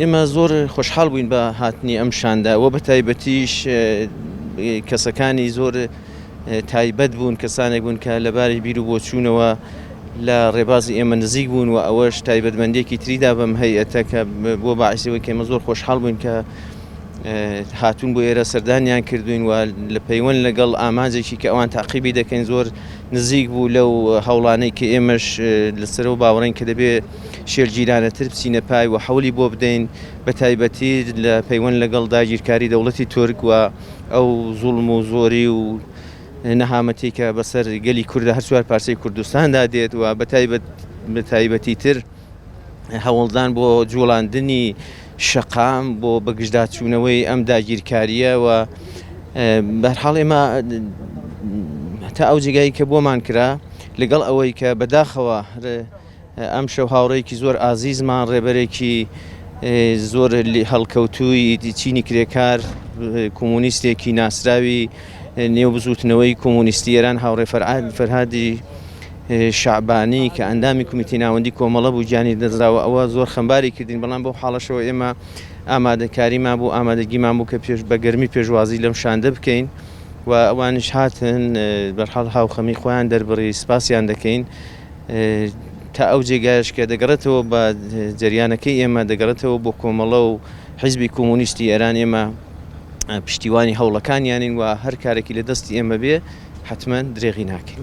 ئێمە زۆر خۆشحاڵ بووین بە هاتنی ئەم شاندە و بەتایبەتیش کەسەکانی زۆر تایبەت بوون کەسانێک بوون کە لەباری بیر و بۆچوونەوە لە ڕێبازی ئێمە نزیک بوون و ئەوەش تایبەتمەندێکی تریدا بەم هەیەتە کە بۆ باعسیەوە کێمە زۆر خۆشحاڵ بووین کە هاتوون بۆ ئێرە سەردانیان کردوین و لە پەیوەند لەگەڵ ئامانجێکی کە ئەوان تاقیبی دەکەین زۆر نزیک بوو لەو هەوڵانەی کە ئێمەش لەسەرەوە باوەڕین کە دەبێت شێلگیرانەتر بچینە پای و حەولی بۆ بدەین، بەتایبەتی لە پەیوەند لەگەڵ داگیرکاری دەوڵەتی تورک و ئەو زوڵم و زۆری و نەهامەتی کە بەسەر گەلی کوردە هەر چوار پارچەی کوردستاندا دێت و بەتایبەتیتر هەوڵدان بۆ جوڵاندنی شەقام بۆ بەگژداچوونەوەی ئەم داگیرکاریە و بەرحاڵ ئێمە تا ئەو جگای کە بۆمان کرا لەگەڵ ئەوەی کە بەداخەوە ئەمشەو هاوڕێیەکی زۆر ئازیزمان ڕێبەرێکی زۆر هەڵکەوتووی چینی کرێکار کۆمونیستێکی ناسراوی نێو بزوتنەوەی کۆمونیستی ئێران هاوڕێ فەرعاد فەرهادی شعبانی کە ئەندامی کومیتی ناوەندی کۆمەڵە بوو گیانی دەزراوە ئەوە زۆر خەمباری کردین بەڵام بەو حاڵەشەوە ئێمە ئامادەکاریمان بوو ئامادەگیمان بوو کە پێش بەگەرمی پێشوازی لەم شاندە بکەین و ئەوانش هاتن بەرحاڵ هاوخەمی خۆیان دەربڕی سپاسیان دەکەین تا ئەو جێگایەش کە دەگەڕێتەوە بە جەریانەکەی ئێمە دەگەڕێتەوە بۆ کۆمەڵە و حیزبی کۆمۆنیستی ئێران ئێمە پشتیوانی هەوڵەکانیانین و هەر کارێکی لە دەستی ئێمە بێ حتمما درێغی ناکەین.